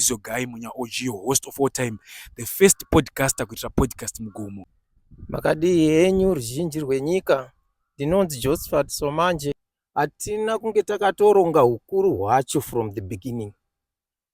is your guy munya OG host of all time the first podcaster kuitira podcast mugomo makadii henyu ruzhinji rwenyika ndinonzi josephat somanje hatina kunge takatoronga ukuru hwacho from the beginning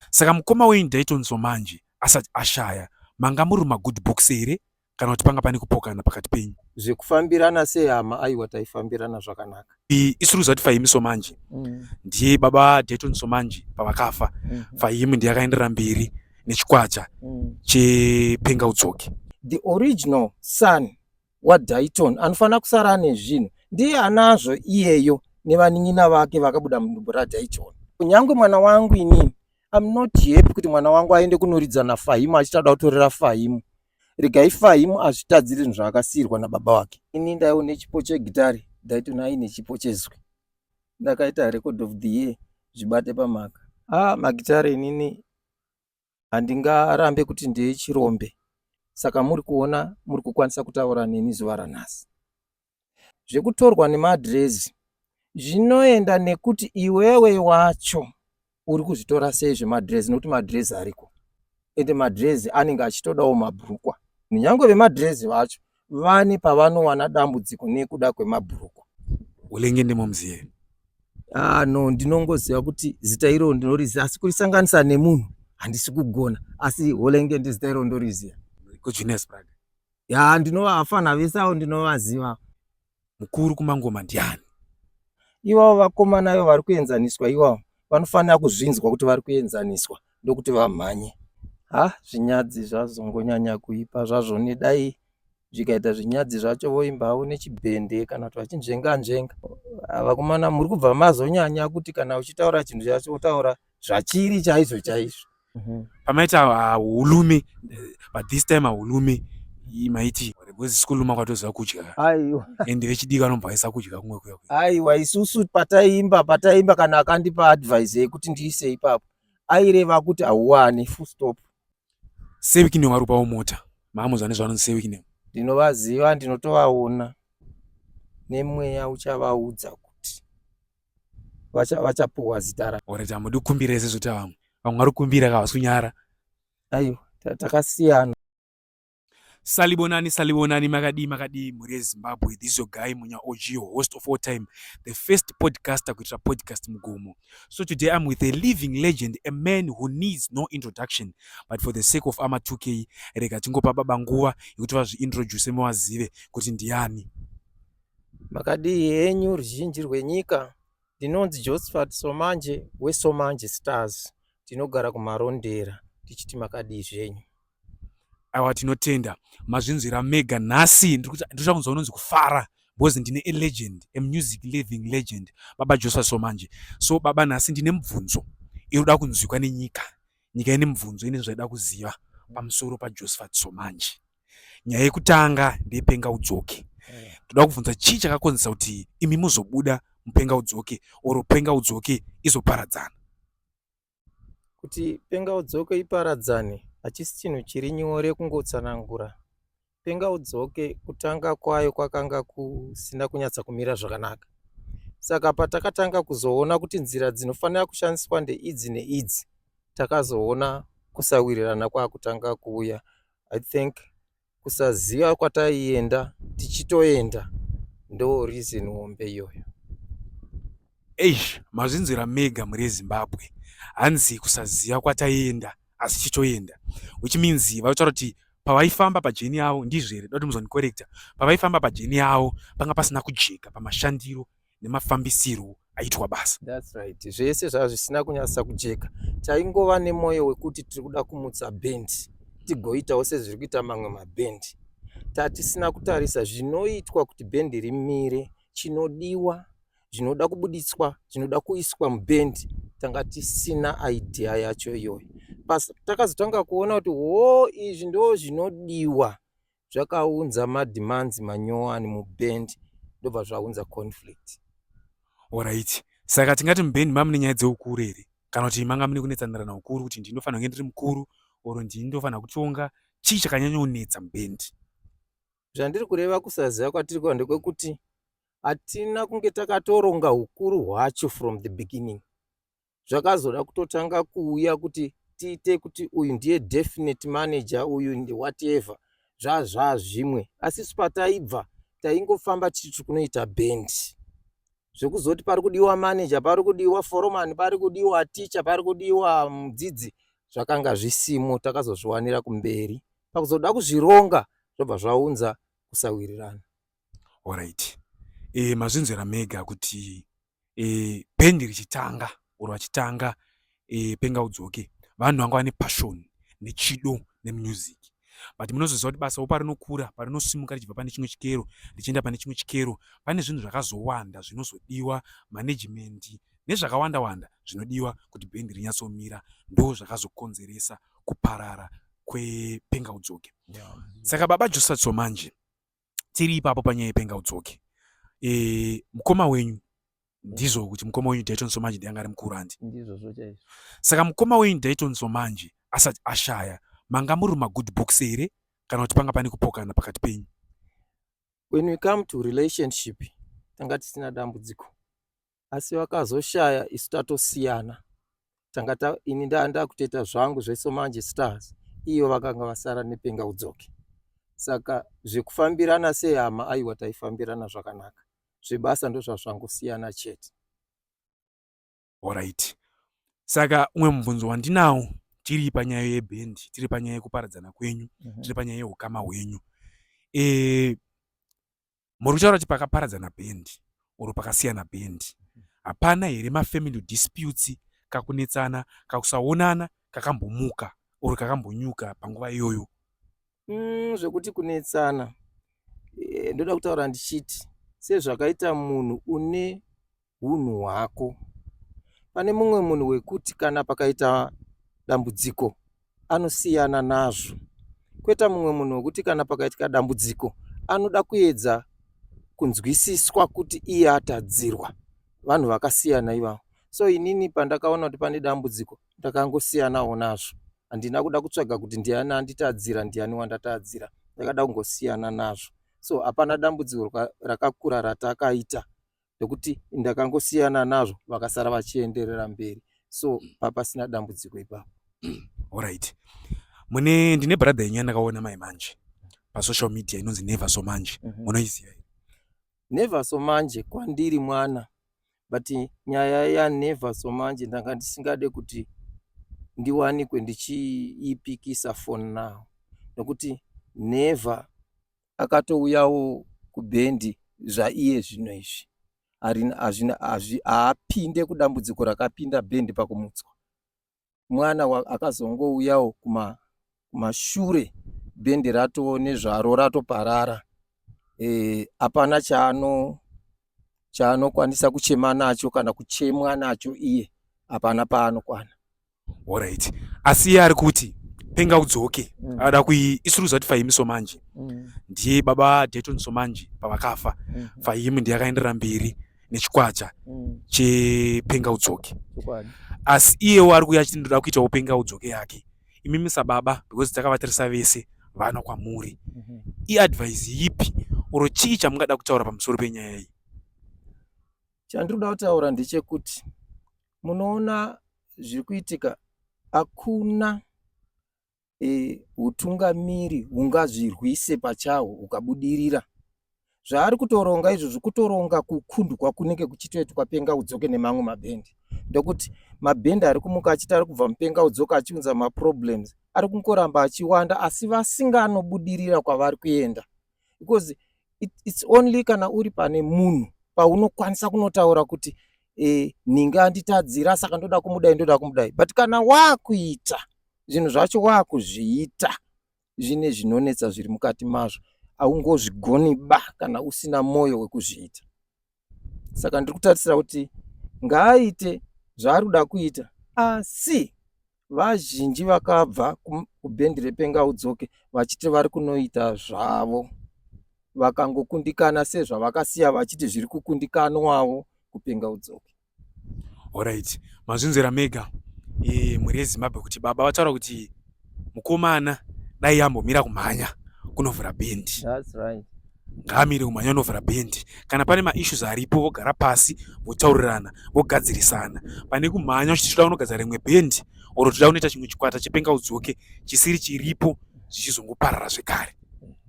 Saka mukoma wenyu ndaitonzwa manje asati ashaya. Manga muri muma good books here kana kuti panga pane kupokana pakati penyu? Zvekufambirana sehama aiwa taifambirana zvakanaka. I- Isuru zati Fahimi Somanji Mm. ndiye baba Dayton Somanji pavakafa. Mhm. Fahimi ndiye akaenderera mberi nechikwata Mm. chepenga udzoke. the original son waDayton anofanira kusara ane zvinhu ndiye anazvo iyeyo nevanin'ina vake vakabuda mudumbu raDayton. Kunyange mwana wangu inini I'm not happy kuti mwana wangu aende kunoridza naFahimu achitada kutorera Fahimu. Regai Fahimu azvitadzire zvinhu zvaakasiirwa nababa wake. Ini ndaiwo nechipo chegitare Dayton aine chipo chezwi. Ndakaita record of the year zvibate pamhaka. Ah, magitare inini handingarambe kuti ndeye chirombe saka muri kuona muri kukwanisa kutaura neni zuva ranhasi zvekutorwa nemaadhirezi zvinoenda nekuti iwewe wacho uri kuzvitora sei zvemadhirezi nekuti madhirezi ariko ende madhirezi anenge achitodawo mabhurukwa kunyange vemadhirezi vacho vane pavanowana dambudziko nekuda kwemabhurukwa ulenge ndimo muzive ah no ndinongoziva kuti zita iro ndinoriziva asi kurisanganisa nemunhu handisi kugona asi holenge ndizita iro ndoriziva kujunes prad ya ndinova afana vese avo ndinovaziva mukuru kumangoma ndiani iwawo vakomana ivo vari kuenzaniswa iwawo vanofanira kuzvinzwa kuti vari kuenzaniswa ndokuti vamhanye ha zvinyadzi zvazongonyanya kuipa zvazvo nedai zvikaita zvinyadzi zvacho voimba havo nechibhende kana kuti vachinzvenga nzvenga vakomana muri kubva mazonyanya kuti kana uchitaura chinhu chacho wotaura zvachiri chaizvo chaizvo mhm. pamaita ah, ulume but this time aulume maiti because school makwatoziva kudya aiwa and vechidiki anobva aisa kudya kumwe kuya aiwa isusu pataimba pataimba kana akandipa advice yekuti ndiise ipapo aireva kuti hauwani full stop sevikine warupawo mota mamuza nezvano sevikine ndinovaziva ndinotovaona nemweya uchavaudza vachapuwa zita ra ore tamudi kukumbira ese zvota vamwe vamwe vari kukumbira ka vasunyara aiwa takasiyana salibonani salibonani makadii makadii mhuri yezimbabwe this your guy munya og host of all time the first podcaster kuitira podcast mugomo so today i'm with a living legend a man who needs no introduction but for the sake of ama 2k rega tingopa baba nguva yekuti vazviintroduce muvazive kuti ndiani Makadii henyu ruzhinji rwenyika, ndinonzi Josephat Somanje weSomanje Stars, ndinogara kuMarondera tichiti makadii zvenyu. Awa tinotenda mazvinzwira mega nhasi ndikuda kunzwa unonzi kufara because ndine a legend a music living legend baba Josephat Somanje. So baba nhasi ndine mubvunzo inoda kunzwikwa nenyika, nyika ine mubvunzo ine zvaida kuziva pamusoro paJosephat Somanje. nyaya yekutanga ndeyepenga udzoke eh. toda kubvunza chii chakakonzesa kuti imi muzobuda mupenga udzoke or penga udzoke izoparadzana kuti penga udzoke iparadzane hachisi chinhu chiri nyore kungotsanangura penga udzoke kutanga kwayo kwakanga kusina kunyatsa kumira zvakanaka saka patakatanga kuzoona kuti nzira dzinofanira kushandiswa ndeidzi neidzi takazoona kusawirirana kwakutanga kuuya i think kusaziva kwataienda tichitoenda ndo reason hombe iyoyo eish mazvinzwira mega muri ezimbabwe hanzi kusaziva kwataienda asi tichitoenda which means vaitaura kuti pavaifamba pajeni yavo ndizvo here dati muzondikorekta pavaifamba pajeni yavo panga pasina kujeka pamashandiro nemafambisirwo aitwa basa. That's right. Zvese zvava zvisina kunyasa kujeka. Taingova nemwoyo wekuti tiri kuda kumutsa band tigoitawo sezviri kuita mamwe maband. Tatisina kutarisa zvinoitwa kuti band rimire, chinodiwa, zvinoda kubuditswa, zvinoda kuiswa muband. Tanga tisina idea yacho iyoyo. Basa takazotanga kuona kuti hoo izvi ndo zvinodiwa zvakaunza mademands manyowani muband ndobva zvaunza conflict orit saka tingati muband mamune nyaya dzeukuru here kana kuti manga mune kunetsanirana ukuru kuti ndii ndofanira kunge ndiri mukuru or ndii ndofanira kutonga chii chakanyanyonetsa muband zvandiri kureva kusaziva kwatiri kuva ndekwekuti hatina kunge takatoronga ukuru hwacho from the beginning zvakazoda kutotanga kuuya kuti tiite kuti uyu ndiye definite manager uyu ndi whatever zvazvaa zvimwe asi spataibva taingofamba tichi tiri kunoita band zvekuzoti pari kudiwa manager pari kudiwa foromani pari kudiwa ticha pari kudiwa mudzidzi zvakanga zvisimo takazozviwanira kumberi pakuzoda kuzvironga zvobva zvaunza kusawirirana Alright. E, mazvinzvera mega kuti e, band richitanga or vachitanga e, penga udzoke vanhu vanga vane passion nechido nemusic but munozoziva kuti basa parinokura parinosimuka richibva pane chimwe chikero richienda pane chimwe chikero pane zvinhu zvakazowanda zvinozodiwa management nezvakawanda wanda zvinodiwa kuti bhendi rinyatsomira ndo zvakazokonzeresa kuparara kwepenga udzoke yeah. saka baba josatso manje tiri ipapo panyaya yepenga udzoke e, mukoma wenyu ndizvo kuti mukoma wenyu dayton somanje ndianga ari mukuru handi ndizvozvo chaizvo saka mukoma wenyu dayton somanje asati ashaya manga muri magood books here kana kuti panga pane kupokana pakati penyu when we come to relationship tanga tisina dambudziko asi vakazoshaya isu tatosiyana tanga ta ini ndaa ndakutoita zvangu zvesomanje stars iyo vakanga vasara nepenga udzoke saka zvekufambirana sehama aiwa taifambirana zvakanaka zvebasa ndozvazvangosiyana chete orit saka umwe mubvunzo wandinawo tiri panyaya yebhendi tiri panyaya yekuparadzana kwenyu mhm. tiri panyaya yeukama hwenyu e, muri kutaura kuti pakaparadzana band or pakasiyana band hapana here mafamily disputes kakunetsana kakusaonana kakambomuka or kakambonyuka panguva iyoyo mm, zvekuti kunetsana e, ndoda kutaura ndichiti sezvakaita munhu une hunhu hwako pane mumwe munhu wekuti kana pakaita dambudziko anosiyana nazvo kweta mumwe munhu wekuti kana pakaitika dambudziko anoda kuedza kunzwisiswa kuti iye atadzirwa vanhu vakasiyana ivavo so inini pandakaona kuti pane dambudziko ndakangosiyanawo nazvo handina kuda kutsvaga kuti ndiani anditadzira ndiani wandatadzira ndakada kungosiyana nazvo so hapana dambudziko rakakura ratakaita nekuti ndakangosiyana nazvo vakasara vachienderera mberi so papasina dambudziko ipapo orit mune ndine brother yenyu yandakaona mai manje pasocial media inonzi never so manje mhm. munoiziva mm -hmm. never so manje kwandiri mwana but nyaya yanever so manje ndanga ndisingade kuti ndiwanikwe ndichiipikisa fon now nokuti never akatouyawo kubhendi zvaiye zvino izvi haapinde kudambudziko rakapinda bhendi pakumutswa mwana akazongouyawo kumashure bhendi ratoo nezvaro ratoparara eh, hapana e, chaano chaanokwanisa kuchema nacho kana kuchemwa nacho iye hapana paanokwana Alright. Asi iye ari kuti penga udzoke. Mm. Ada kui isuru zati Fahimi Somanji. Mm. Ndiye baba Dayton Somanji pavakafa. Mm. Fahimi ndiye akaendera mberi nechikwacha mm. chepenga udzoke. Chikwani. Asi iyewo ari kuya achiti ndoda kuita upenga udzoke yake. Imi misa baba because takavatirisa vese vana kwamuri. Mm -hmm. I advise yipi oro chii chamungada kutaura pamusoro penyaya iyi? Chandinoda kutaura ndechekuti munoona zviri kuitika hakuna hutungamiri e, hungazvirwise pachahwo hukabudirira zvaari kutoronga izvo zvikutoronga kukundwa kunenge kuchitoitwa penga udzoke nemamwe mabhendi ndokuti mabhendi ari kumuka achiti ari kubva mupenga udzoka achiunza maproblems ari kungoramba achiwanda asi vasinganobudirira kwavari kuenda because it, it's only kana uri pane munhu paunokwanisa kunotaura kuti e, nhingi anditadzira saka ndoda kumudai ndoda kumudai but kana wakuita zvinhu zvacho wakuzviita zvine zvinonetsa zviri mukati mazvo haungozvigoni ba kana usina mwoyo wekuzviita saka ndiri kutarisira kuti ngaaite zvaari kuda kuita asi vazhinji vakabva kubhendi repenga udzoke vachiti vari kunoita zvavo vakangokundikana sezvavakasiya vachiti zviri kukundikanwawo kupenga udzoke Alright, mazvinzwira mega e, mhuri yeZimbabwe kuti baba vataura kuti mukomana dai yambomira kumhanya kunovhura bhendi. That's right. Ngaamire kumhanya kunovhura bhendi. Kana pane maissues aripo vogara pasi votaurirana vogadzirisana. Pane kumhanya uchiti toda kunogadzira rimwe bhendi or toda kunoita chimwe chikwata chepenga udzoke chisiri chiripo zvichizongoparara zvekare.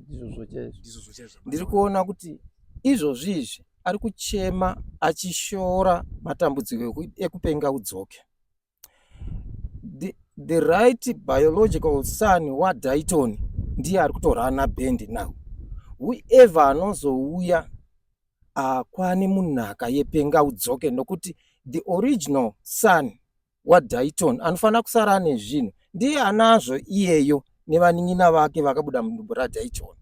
Ndizvozvo chaizvo. Ndizvozvo chaizvo. Ndiri kuona kuti izvozvi izvi ari kuchema achishora matambudziko ekupenga udzoke the, the right biological son wadaiton ndiye ari kutorana bhendi now whoever anozouya akwane munhaka yepenga udzoke nokuti the original son waDayton anofanira kusara ane zvinhu ndiye anazvo iyeyo nevanin'ina vake vakabuda mudumbu raDayton.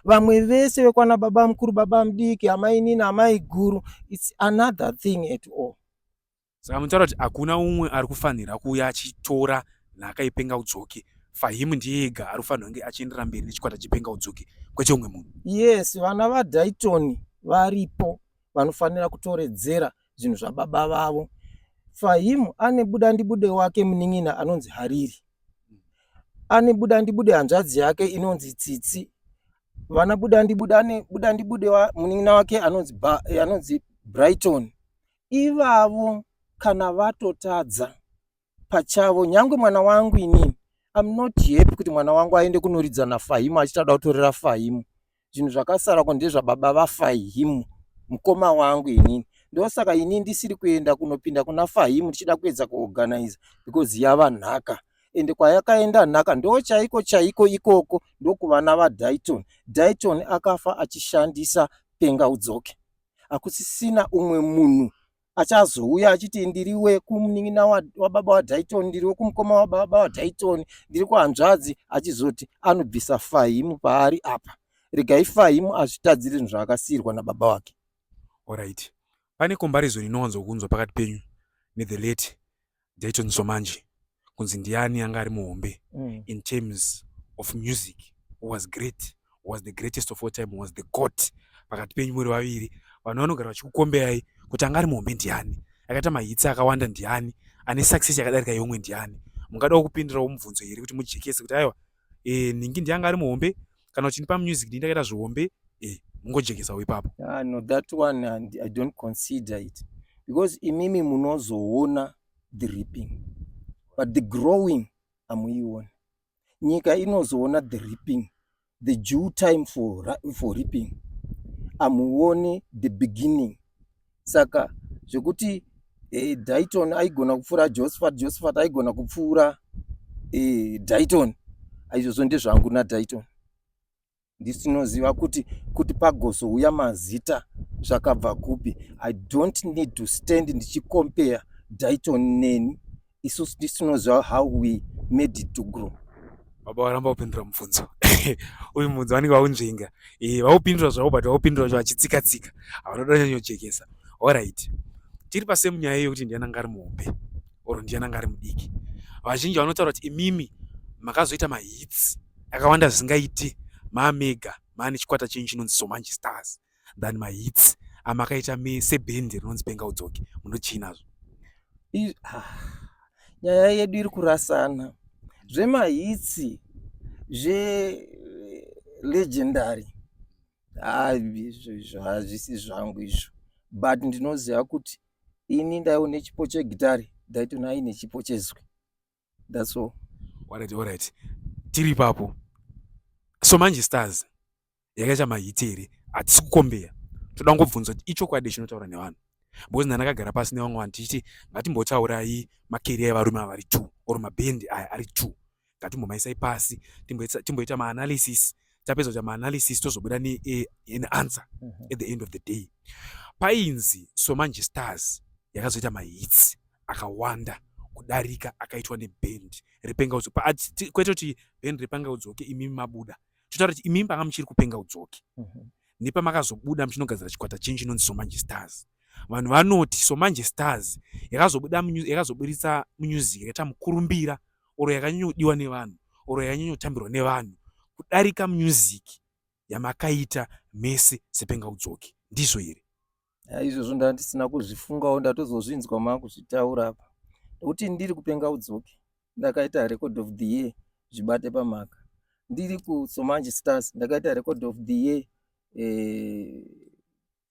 Vamwe vese vekwana baba mukuru, baba mudiki, amai nini, amai guru, it's another thing at all. Saka munotaura kuti hakuna umwe ari kufanira kuuya achitora nhaka yepenga udzoke fahimu ndiye ega ari kufanira kunge achienderera mberi nechikwata chepenga udzoke kwete umwe munhu. Yes, vana vaDayton varipo vanofanira kutoredzera zvinhu zvababa vavo fahim ane buda ndibude wake munin'ina anonzi hariri ane buda ndibude hanzvadzi yake inonzi tsitsi vana buda ndibude ane buda ndibude wa, munin'ina wake anonzi ba, anonzi brighton ivavo kana vatotadza pachavo nyangwe mwana wangu inini I'm not happy kuti mwana wangu aende kunoridza nafahimu achitada kutorera fahimu zvinhu zvakasara ko ndezvababa vafahimu mukoma wangu inini ndosaka ini ndisiri kuenda kunopinda kuna fahimu ndichida kuedza kuorganiza because yava nhaka ende kwayakaenda nhaka ndo chaiko chaiko ikoko ndokuvana vadaiton daiton akafa achishandisa penga udzoke hakusisina umwe munhu achazouya achiti ndiri wekumunin'ina wababa wadaiton ndiri wekumukoma wababa wadaiton ndiri kuhanzvadzi achizoti anobvisa fahimu paari apa regai fahimu azvitadziri zvinhu zvaakasiirwa nababa wake orit pane comparison inowanzokunzwa pakati penyu nethe late Ndaitonzwa manje kunzi ndiani anga ari muhombe mm. in terms of music who was great who was the greatest of all time who was the goat pakati penyu muri vaviri vanhu vanogara vachikukomberai kuti anga ari muhombe ndiani akaita mahitsi akawanda ndiani ane success yakadarika yeumwe ndiani mungadawo kupindirawo mubvunzo here kuti mujekese kuti aiwa eh nhingi ndiye anga ari muhombe kana uchindipa music ndini ndakaita zvihombe eh mungojekesawo ipapo ah, no that one and i don't consider it because imimi munozoona the reaping but the growing amuiona nyika inozoona the reaping the due time for, for reaping amuone the beginning saka zvekuti eh, daiton aigona kupfuura josephat josephat aigona kupfuura eh, daiton aizvozvo ndezvangu nadaiton ndisi tinoziva kuti kuti pagozouya mazita zvakabva kupi i don't need to stand ndichicompare daiton neni isusu tisinoziva how we made it to grow baba varamba kupindura mubvunzo uyu mubvunzo vanenge vaunzvenga eh, vaupindura zvavo but vaupindura zvo vachitsika tsika havanoda nyanyojekesa allright tiri pasemu nyaya iyo kuti ndiana ngari muhombe or ndiana ngari mudiki vazhinji vanotaura kuti imimi makazoita mahits akawanda zvisingaiti mamega mane chikwata chenyu chinonzi somanji stars than my hits amakaita me sebhendi rinonzi penga udzoke munochinazvo ah, nyaya yedu iri kurasana zvemahitsi zvelegendary ah, izvo izvo hazvisi zvangu izvo but ndinoziva kuti ini ndaiwo nechipo chegitari ndaitona aine chipo chezwi that's all alright alright tiri ipapo so manje stars yakaita mahiti here hatisi kukombeya toda ngobvunza kuti ichokwadi chinotaura nevanhu because nani akagara pasi nevamwe vanhu tichiti ngatimbotaurai makeriya evarume avari two or mabhendi aya ari two ngatimbomaisai pasi timboita maanalysis tapedza kuita maanalysis tozobuda neanswer eh, mhm. at the end of the day painzi so manje stars yakazoita mahits akawanda kudarika akaitwa nebhendi repengaudzo kwete kuti bhendi repangaudzoke imimi mabuda totaura kuti imimi panga muchiri kupenga udzoke mhm. nepamakazobuda muchinogadzira chikwata chenyu chinonzi somanje stars vanhu vanoti somanje stars yakazobuda yakazoburitsa music yakaita mukurumbira oro yakanyanyodiwa nevanhu oro yakanyanyotambirwa nevanhu kudarika music yamakaita mese sepenga udzoke ndizvo here izvozvo ndandisina kuzvifungawo ndatozozvinzwa makuzvitaura apa nekuti ndiri kupenga udzoke ndakaita record of the year zvibate pamhaka ndiri kusomanji stars ndakaita record of the year eh,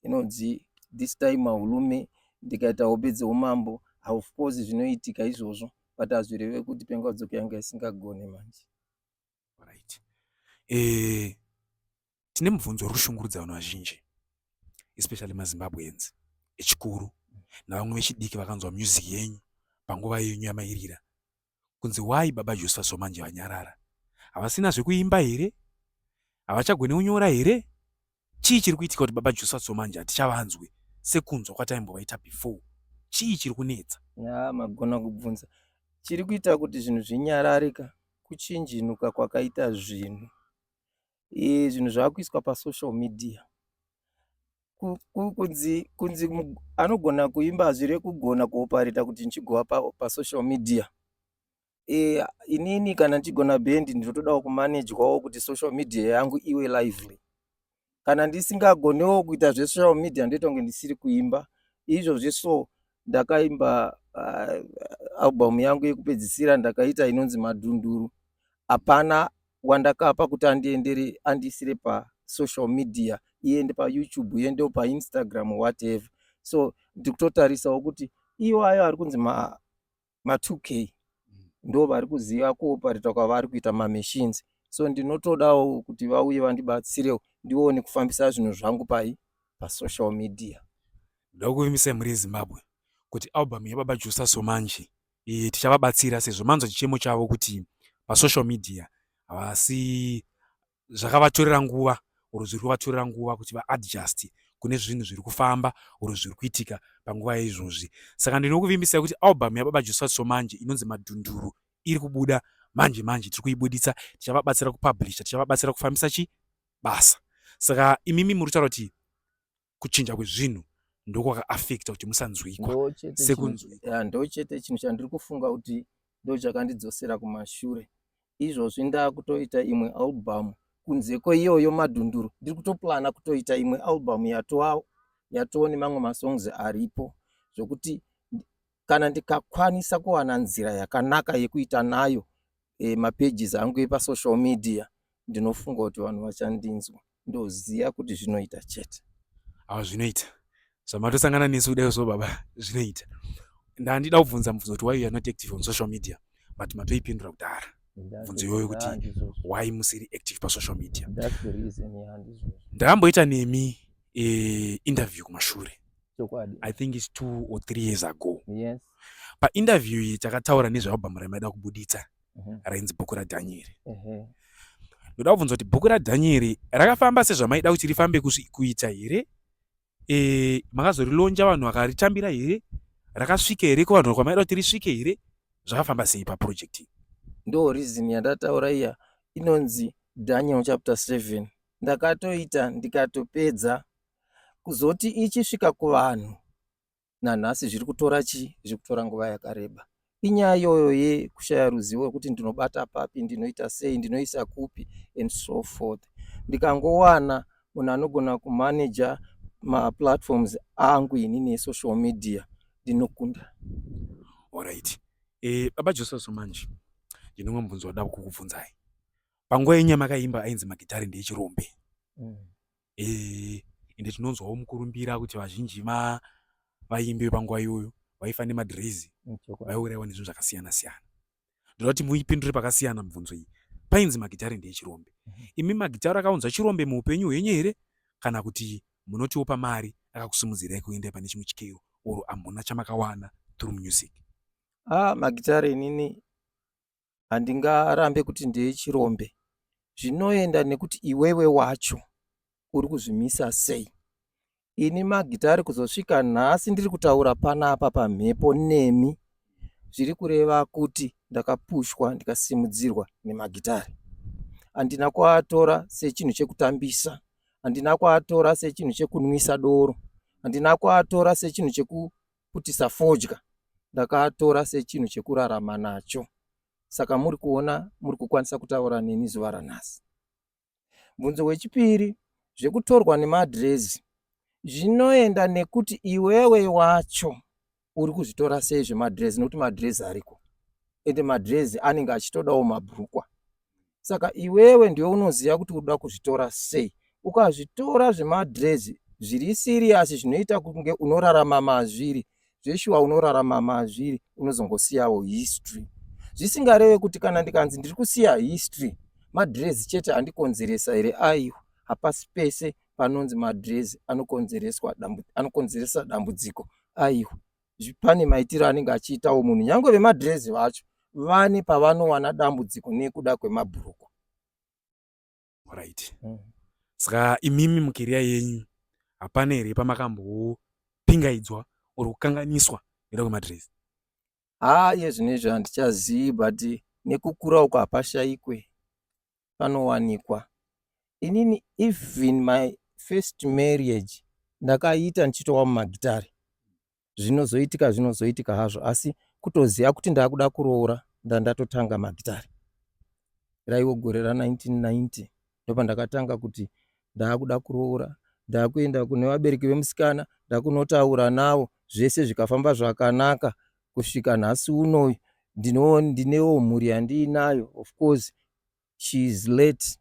inonzi eh, this time mahulume ndikaita hope dzeumambo of course zvinoitika izvozvo but hazvireve kuti penga udzoke yanga isingagone manje right eh tine mubvunzo uri kushungurudza vanhu vazhinji especially mazimbabweans echikuru navamwe vechidiki vakanzwa music yenyu panguva yenyu yamairira kunzi why baba josepha somanje vanyarara havasina zvekuimba here havachagone kunyora here Chii chiri kuitika kuti baba Jusa so manje hatichavanzwe sekunzwa kwataimbovaita before? Chii chiri kunetsa? Yaa magona kubvunza. Chiri kuita kuti zvinhu zvinyarare ka kuchinjinuka kwakaita zvinhu. Eh, zvinhu zvakuiswa pasocial media. Ku- ku- Kunzi kunzi mu- anogona kuimba zvirekugona kuopareta kuti ndichigova pa, pasocial media. eh, inini kana ndichigona band ndinotodawo kumanejwawo kuti social media yangu iwe lively kana ndisingagonewo kuita zvesocial media ndoita kunge ndisiri kuimba izvo zveso ndakaimba uh, album yangu yekupedzisira ndakaita inonzi madhunduru hapana wandakapa kuti andiendere andiisire pasocial media iende payoutube iende painstagram whatever so ndikutotarisawo kuti iwayo ari kunzi ma 2k ndo vari kuziva kuopareta kwavari kuita mamachines so ndinotodawo kuti vauye vandibatsirewo ndione kufambisa zvinhu zvangu pai pasocial media ndoda kuvimbisa mhuri yezimbabwe kuti album yababa jusa somanji e, tichavabatsira sezvo manzwa chichemo chavo kuti pasocial media havasi zvakavatorera nguva or zviri kuvatorera nguva kuti vaadjust kune zvinhu zviri kufamba or zviri kuitika panguva yeizvozvi saka ndinokuvimbisai kuti album yababa josua somanje inonzi madhunduru iri kubuda manje manje tiri kuibuditsa tichavabatsira kupublisha tichavabatsira kufambisa chi basa saka imimi muri kutaura kuti kuchinja kwezvinhu ndokwakaafekta kuti musanzwikwa sekunzwika ndo chete chinhu chandiri kufunga kuti ndo chakandidzosera kumashure izvozvi ndaakutoita imwe albhamu kunze kweiyoyo madhunduru ndiri kutoplana kutoita imwe albhamu yatoa yatoo nemamwe masongs aripo zvokuti kana ndikakwanisa kuwana nzira yakanaka yekuita nayo e, mapages angu epasocial media ndinofunga kuti vanhu vachandinzwa ndoziva kuti zvinoita chete aa zvinoita zvamatosangana nesu kudai so baba zvinoita ndandida kubvunza mubvunzo kuti why you are not active on social media but matoipindura kudhara bvunzo iyoyo kuti why musiri active pasocial media ndakamboita nemi e, interview kumashure chokwadi i think its two or three years ago yes painterview iyi takataura nezvealbhamu ramaida kubuditsa mm -hmm. rainzi bhuku radhanyeri mm -hmm. ndoda kubvunza kuti bhuku radhanyeri rakafamba sezvamaida kuti rifambe kuita here e, makazorilonja vanhu vakaritambira here rakasvika here kuvanhu kwamaida kuti risvike here zvakafamba sei paproject ndo reason yandataura iya inonzi daniel chapter 7 ndakatoita ndikatopedza kuzoti ichisvika kuvanhu nanhasi zviri kutora chii zviri kutora nguva yakareba inyaya iyoyo yekushaya ruzivo rwekuti ndinobata papi ndinoita sei ndinoisa kupi and so forth ndikangowana munhu anogona kumanaja maplatforms angu inini esocial media ndinokunda orit eh, baba joseso manje ndinomwe mubvunzo wada kukubvunzai panguva yenyu yamakaimba ainzi magitari ndeechirombe mm. eh ende tinonzwawo mukurumbira kuti vazhinji va vaimbi vepanguva iyoyo vaifa nemadhirizi vaiurayiwa nezvinhu zvakasiyana siyana ndoda kuti muipindure pakasiyana mibvunzo iyi painzi magitare ndeechirombe mhm. imi magitare akaunza chirombe muupenyu hwenyu here kana kuti munotiwo pamari akakusimudzirai kuenda pane chimwe chikero or amhuna chamakawana through music ah magitare inini handingarambe kuti ndechirombe zvinoenda nekuti iwewe wacho uri kuzvimisa sei ini magitari kuzosvika nhasi ndiri kutaura panapa pamhepo nemi zviri kureva kuti ndakapushwa ndikasimudzirwa nemagitari handina kuatora sechinhu chekutambisa handina kuatora sechinhu chekunwisa doro handina kuatora sechinhu cheku kuti safodya ndakatora sechinhu chekurarama nacho saka muri kuona muri kukwanisa kutaura neni zuva ranhasi bvunzo wechipiri zvekutorwa nemadhirezi zvinoenda nekuti iwewe wacho uri kuzvitora sei zvemadhirezi nokuti madhirezi ariko ende madhirezi anenge achitodawo mabhurukwa saka iwewe ndiwe unoziva kuti uda kuzvitora sei ukazvitora zvemadrezi zviri siriyasi zvinoita kunge unorarama mazviri zveshuwa unorarama mazviri unozongosiyawo history zvisingareve kuti kana ndikanzi ndiri kusiya history madrezi chete andikonzeresa here aiwa hapasi pese panonzi madrezi anokonzeresa dambudziko aiwa pane maitiro anenge achiitawo munhu nyange vemadhirezi vacho vane pavanowana dambudziko nekuda kwemabhurukwa right mm. saka imimi mukeriya yenyu hapana here pamakambopingaidzwa or kukanganiswa nekuda kwemadhirezi haa iye zvino izvo handichazivi but nekukura uko hapashaikwe panowanikwa inini even my first marriage ndakaiita ndichitowa mumagitare zvinozoitika zvinozoitika hazvo asi kutoziva kuti ndakuda kuroora ndandatotanga magitare raiwo gore ra 1990 ndopandakatanga kuti ndakuda kuroora ndakuenda kune vabereki vemusikana ndakunotaura navo zvese zvikafamba zvakanaka kusvika nhasi unoyu ndinewo mhuri yandiinayo of course she is late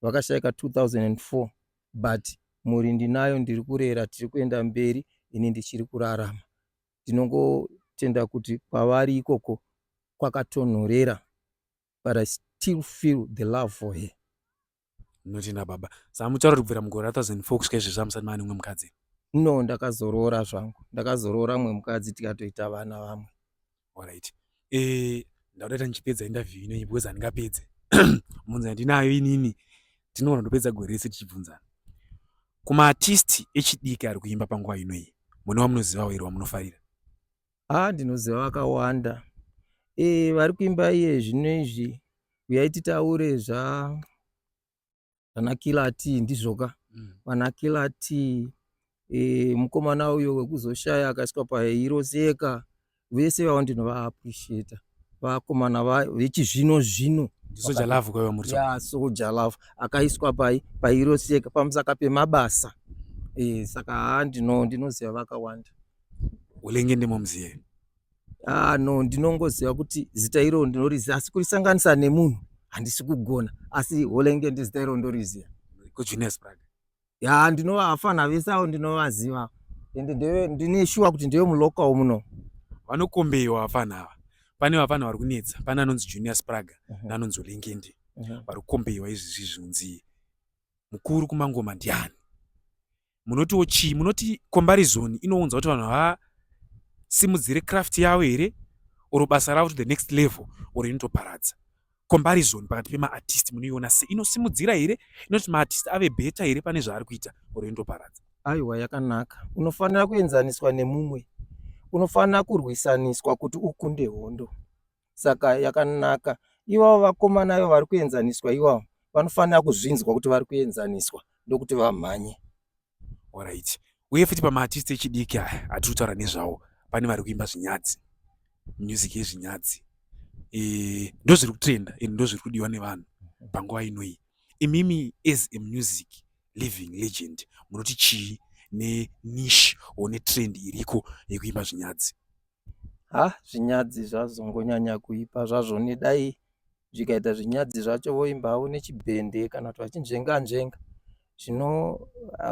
vakashaika 2004 but mhuri ndinayo ndiri kurera tiri kuenda mberi ini ndichiri kurarama ndinongotenda kuti kwavari ikoko kwakatonhorera but I still feel the love for her. Notenda baba. Saka mucharo kubvira mugore ra 2004 kusvika izvezvi hamusati mava nemumwe mukadzi here? No, ndakazoroora zvangu. Ndakazoroora mumwe mukadzi tikatoita vana vamwe. Alright. Eh, ndauda kuti ndichipedza interview ino because handingapedze. Munzi handinayo inini. Tinoona ndopedza gore rese tichibvunzana. Kuma artist echidiki ari kuimba panguva ino iyi, mune wamunozivawo here wamunofarira? Haa ndinoziva vakawanda ee eh, vari kuimba iye zvino izvi uyai titaure zva vanakilati ndizvoka mm. vanakilati e, eh, mukomana uyo wekuzoshaya akaiswa pairoseka vese vavo ndinovaappreciata vakomana vechizvino zvino soja love kwaiva muri ya soja love akaiswa pai pairoseka pamusaka pemabasa e, saka haa ndinoziva vakawanda ulenge ndimo muzive ah no ndinongoziva kuti zita iro ndinoriziva asi kurisanganisa nemunhu handisi kugona asi holenge ndizita iro ndoriziva kujunes prag ya ndinova afana vese avo ndinovaziva ende ndeve ndine shuwa kuti ndeve mulocal muno vanokombeiwa vafana ava pane vafana vari kunetsa pane anonzi junior spraga uh -huh. naanonzi olengendi uh -huh. vari kukombeiwa izvizvi zvinonzi mukuru kumangoma ndiani munotiwo chii munoti comparison inounza kuti vanhu havasimudzire craft yavo here or basa ravo to the next level or inotoparadza comparison pakati pemaartist munoiona se inosimudzira here inoti maartist ave beta here pane zvaari kuita or inotoparadza aiwa yakanaka unofanira kuenzaniswa nemumwe unofanira kurwisaniswa kuti ukunde hondo saka yakanaka ivavo vakomana ivo vari kuenzaniswa ivavo vanofanira kuzvinzwa kuti vari kuenzaniswa ndokuti vamhanye orit uye futi pamaartist echidiki aya hatiri kutaura nezvawo pane vari kuimba zvinyadzi music yezvinyadzi e, ndozviri kutrenda and ndozviri kudiwa nevanhu panguva ino iyi imimi as a music living legend munoti chii nenish one trend iriko yekuimba zvinyadzi ha zvinyadzi zvazongonyanya kuipa zvazvo nedai zvikaita zvinyadzi zvacho voimbawo nechibhende kana kuti vachinzvenga nzvenga zvino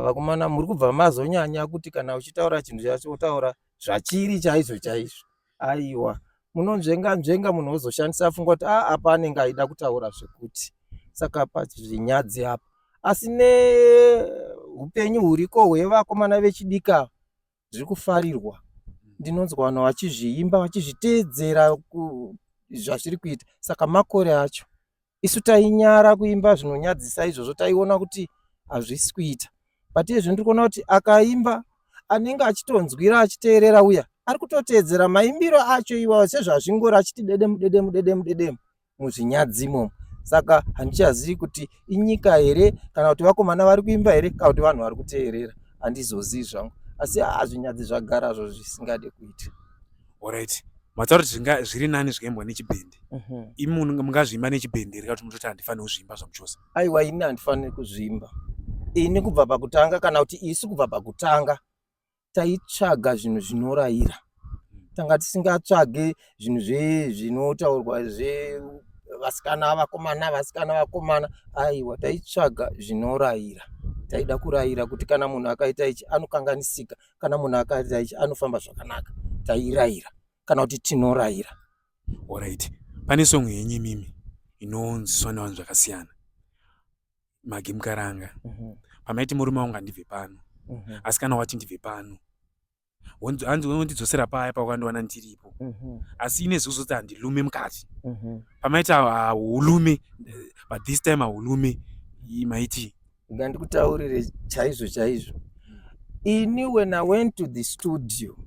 vakomana muri kubva mazonyanya kuti kana uchitaura chinhu chacho wotaura zvachiri chaizvo chaizvo aiwa munonzvenga nzvenga munhu wozoshandisa funga kuti a ah, apa anenge aida kutaura zvekuti saka pazvinyadzi apa asi neupenyu huriko hwevakomana vechidika zviri kufarirwa ndinonzwa vanhu vachizviimba vachizviteedzera zvazviri kuita saka makore acho isu tainyara kuimba zvinonyadzisa izvozvo taiona kuti hazvisi kuita but izvi ndiri kuona kuti akaimba anenge achitonzwira achiteerera uya ari kutoteedzera maimbiro acho iwawo sezvazvingori achiti dedemu dedemu dedemu dedemu muzvinyadzi imomo saka handichazivi kuti inyika here kana kuti vakomana vari kuimba here kana kuti vanhu vari kuteerera handizozivi zvangu asi haa zvinyadzi zvagara zvo zvisingade kuita orit mataura kuti zvinga zviri nani zvikaembwa nechibhende mhm. imi mungazviimba nechibhende here kakuti munototi handifaniri kuzviimba zvamuchose aiwa ini handifaniri kuzviimba ini kubva pakutanga kana kuti isu kubva pakutanga taitsvaga zvinhu zvinorayira tanga tisingatsvage zvinhu zve zvinotaurwa zve vasikana vakomana vasikana vakomana aiwa taitsvaga zvinorayira taida kurayira kuti kana munhu akaita ichi anokanganisika kana munhu akaita ichi anofamba zvakanaka tairayira kana kuti tinorayira orit pane songo yenyu imimi inonzwiswa nevanhu zvakasiyana magi mukaranga mhm. pamaiti murume wangu andibve pano mhm. asi kana wati ndibve pano hanzi wondidzosera paya pawakandiwana ndiripo mhm. asi ine zuzo kuti handilume mukati pamaiti haulume but this time haulume maiti ngandikutaurire chaizvo chaizvo ini when i went to the studio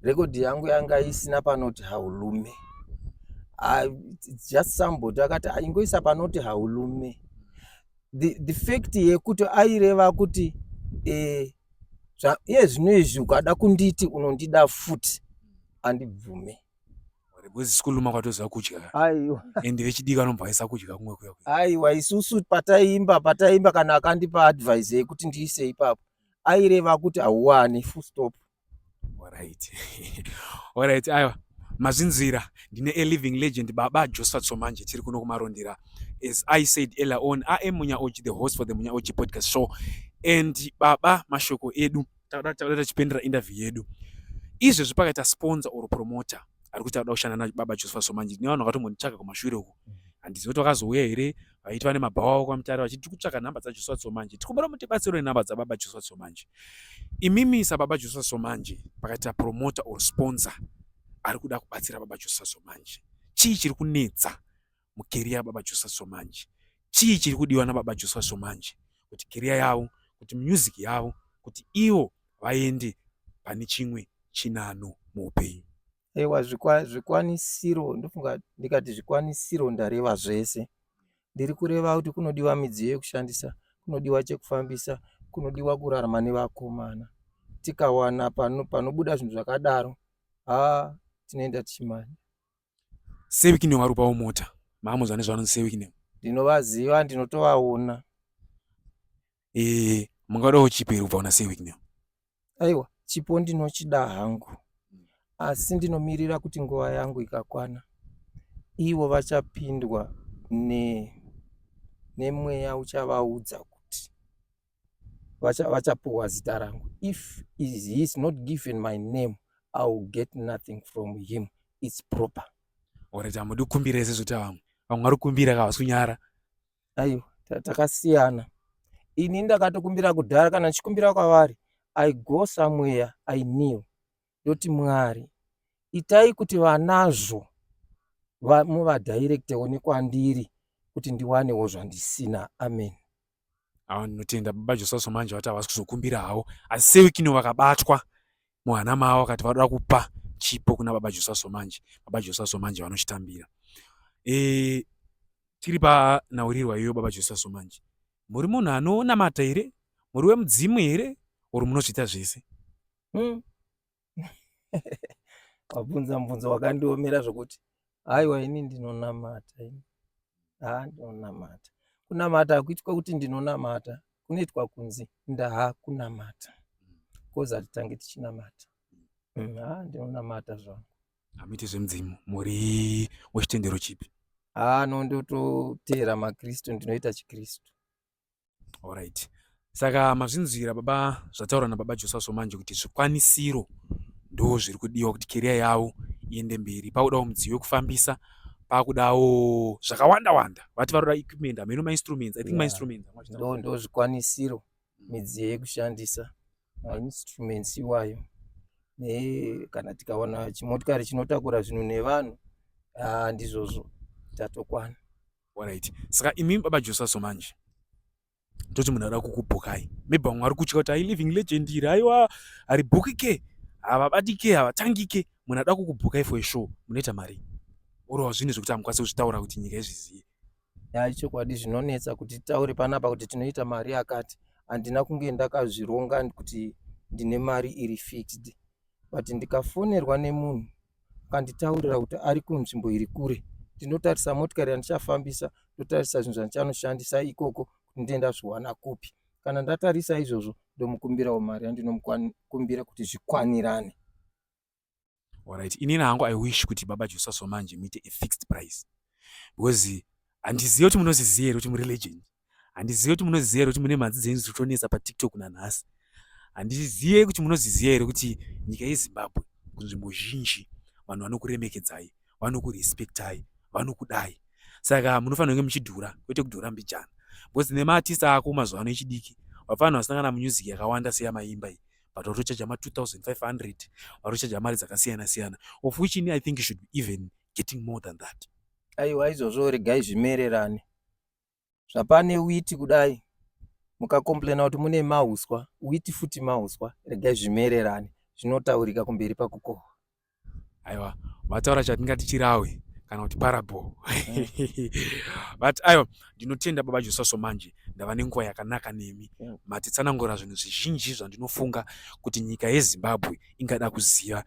rekodhi yangu yanga isina panoti haulume ah, just somebody akati ah, ingoisa panoti haulume the, the fact yekuti aireva kuti eh, iye zvino izvi ukada kunditi unondida futi andibvume because sikuluma kwatoziva kudya aiwa and vechidiki anobva aisa kudya kumwe kuya aiwa isusu pataimba pataimba kana akandipa advice yekuti ndiise ipapo aireva kuti hauwani full stop Alright. Alright, aiwa mazvinzwira ndine a living legend baba josephat somanje tiri kuno kumarondera as i said earlier on i am munyaochi the host for the munyaochi podcast show and baba mashoko edu takuda tachipendera interview yedu izvezvi pakaita sponsor or promoter ari kuti akuda kushanda nababa josephat somanje ndine vanhu vakatombonditsvaga kumashure uku handizivi kuti vakazouya here vaiti vane mabhawa avo kwamutare vachiti tiri kutsvaka nhamba dzajoshua somanje tikumbira mutibatsiro nenhamba dzababa joshua somanje imimi sababa joshua somanje pakaita promota or sponsor ari kuda kubatsira baba joshua somanje chii chiri kunetsa mukeriya baba joshua somanje chii chiri kudiwa nababa joshua somanje kuti keriya yavo kuti music yavo kuti ivo vaende pane chimwe chinano muupenyu Ewa zvikwanisiro ndofunga ndikati zvikwanisiro ndareva zvese. Ndiri kureva kuti kunodiwa midziyo yekushandisa, kunodiwa chekufambisa, kunodiwa kurarama nevakomana. Tikawana panobuda zvinhu zvakadaro, haa tinoenda tichimanya. Seviki newarupawo mota, maamuzvane zvavanonzi seviki ne. Ndinovaziva, ndinotovaona. Eh, mungadawo chipo here kubva kuna sir Wicknell? Aiwa, chipo ndinochida hangu. Asi ndinomirira kuti nguva yangu ikakwana ivo vachapindwa ne nemweya uchavaudza kuti vacha vachapuwa zita rangu. If is he is not given my name, I will get nothing from him. It's proper. Alright, hamudi kukumbira ese zvota vamwe. Vamwe vari kukumbira ka havasi kunyara. aiwa takasiyana ini ndakatokumbira kudhara kana ndichikumbira kwavari i go somewhere i knew ndoti mwari itai kuti vanazvo muvadirectewo nekwandiri kuti ndiwanewo zvandisina amen awa ndinotenda baba josaso manje vati havasi kuzokumbira havo asi sewikino vakabatwa muhana mavo vakati vanoda kupa chipo kuna baba josa somanje baba josa somanje vanochitambira e, tiri panhaurirwa iyoyo baba josa somanje muri munhu anonamata here muri wemudzimu here or munozviita zvese hmm. wabvunza mubvunzo wakandiomera zvokuti haiwa ini ndinonamata ini haa ndinonamata kunamata hakuitwa kuti ndinonamata kunoitwa kunzi ndaa kunamata bcoz hatitange tichinamata mm, haa ndinonamata zvangu hamuiti zvemudzimu muri wechitendero chipi haa no ndototeera makristu ndinoita chikristu Alright. Saka mazvinzwira baba zvataura na baba Josaso manje kuti zvikwanisiro ndo zviri kudiwa kuti career yavo iende mberi. Pakudawo mudziyo wekufambisa, pakudawo zvakawanda wanda. Vati varoda equipment, hameno ma instruments. I think yeah. ma instruments. Ndo ndo zvikwanisiro, midziyo yekushandisa, ma instruments iwayo. Ne kana tikawana chimotikari chinotakura zvinhu nevanhu, ah ndizvozvo tatokwana. Alright. Saka imi baba Josaso manje toti munhu arikuda kukubhukai maybe vamwe vari kutya kuti ailiving legend iri aiwa haribhukike havabatike havatangike munhu ada kukubhukai for show munoita mari orowa zvinhu zvekuti hamukwanisi kuzvitaura kuti nyika izviziye ya chokwadi zvinonetsa kuti taure panapa kuti tinoita mari yakati handina kunge ndakazvironga kuti ndine mari iri fixed but ndikafonerwa nemunhu akanditaurira kuti ari kunzvimbo iri kure ndinotarisa motikari yandichafambisa ndotarisa zvinhu zvandichanoshandisa ikoko kuti ndee ndazviwana kupi kana ndatarisa izvozvo ndomukumbirawo mari yandinomukumbira kuti zvikwanirane orit inini hangu i wish kuti baba josaso manje muite a fixed price because handizive kuti munozviziva here kuti murilegend handizive kuti munoziziva here kuti mune mhanzi dzenyu dziri kutonetsa patiktok nanhasi handizive kuti munoziziva here kuti nyika yezimbabwe kunzvimbo zhinji vanhu vanokuremekedzai vanokurespektai vanokudai saka munofanira kunge muchidhura kwete kudhura mbijana because nemaartist ako mazuva ano echidiki vafanira vasangana munyuzic yakawanda seyamaimba iyi but vatochaja ma2500 vatochaja mari dzakasiyana siyana of which ini i think should be even getting more than that aiwa izvozvo regai zvimererane zvapane witi kudai mukakomplaina kuti mune mauswa witi futi mauswa regai zvimererane zvinotaurika kumberi pakukohwa aiwa vataura chatingati chirawi kana kuti parable mm. but aiwa ndinotenda baba josaso manje ndava nenguva yakanaka nemi mm. matitsanangura zvinhu zvizhinji zvandinofunga kuti nyika yezimbabwe ingada kuziva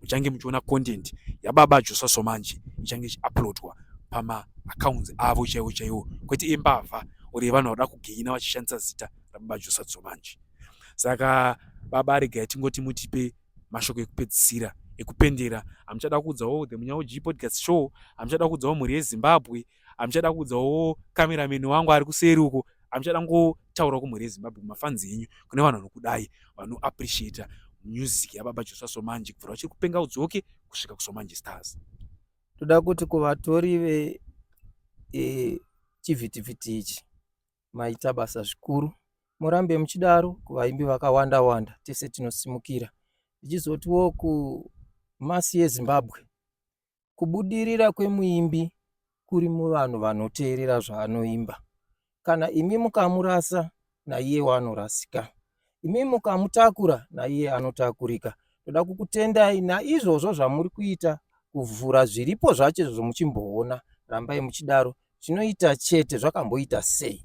muchange muchiona content yababa Joshua Somanje ichange ichiuploadwa pama accounts avo chaiwo chaiwo kwete imbavha or yevanhu vanoda kugeina vachishandisa zita rababa Joshua Somanje saka baba aregai tingoti mutipe mashoko ekupedzisira ekupendera hamuchada kuudzawo the munyaoji podcast show hamuchada kuudzawo mhuri yezimbabwe hamuchada kuudza wo cameraman wangu ari kuseri uko hamuchada ngotaura kumhuri yezimbabwe mafanzi enyu kune vanhu vanokudai vanoappreciata music yababa josa somanje kubvira vachiri kupenga udzoke kusvika kusomanje stars toda kuti kuvatori ve e, chivhitivhiti ichi maita basa zvikuru murambe muchidaro kuvaimbi vakawanda wanda tese tinosimukira tichizotiwo kumasi yezimbabwe kubudirira kwemuimbi kuri muvanhu vanoteerera zvaanoimba. Kana imi mukamurasa, naiyewo anorasika. Imi mukamutakura, naiye anotakurika. Toda kukutendai naizvozvo zvamuri kuita kuvhura zviripo zvacho izvozvo muchimboona. Rambai muchidaro. Zvinoita chete zvakamboita sei.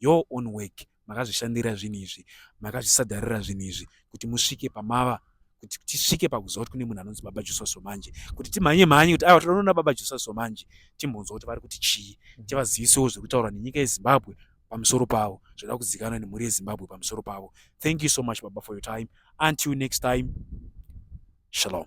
your own work makazvishandira zvinhu izvi makazvisadharira zvinhu izvi kuti musvike pamava kuti tisvike pakuziva kuti kune munhu anonzi baba jusaso manje kuti timhanye mhanye kuti aiwa tinoona baba jusaso manje timbonzwa kuti vari kuti chii mm. tivazivisewo zviri kutaurwa nenyika yezimbabwe pamusoro pavo zvoda kuzikanwa nemhuri yezimbabwe pamusoro pavo thank you so much baba for your time until next time shalom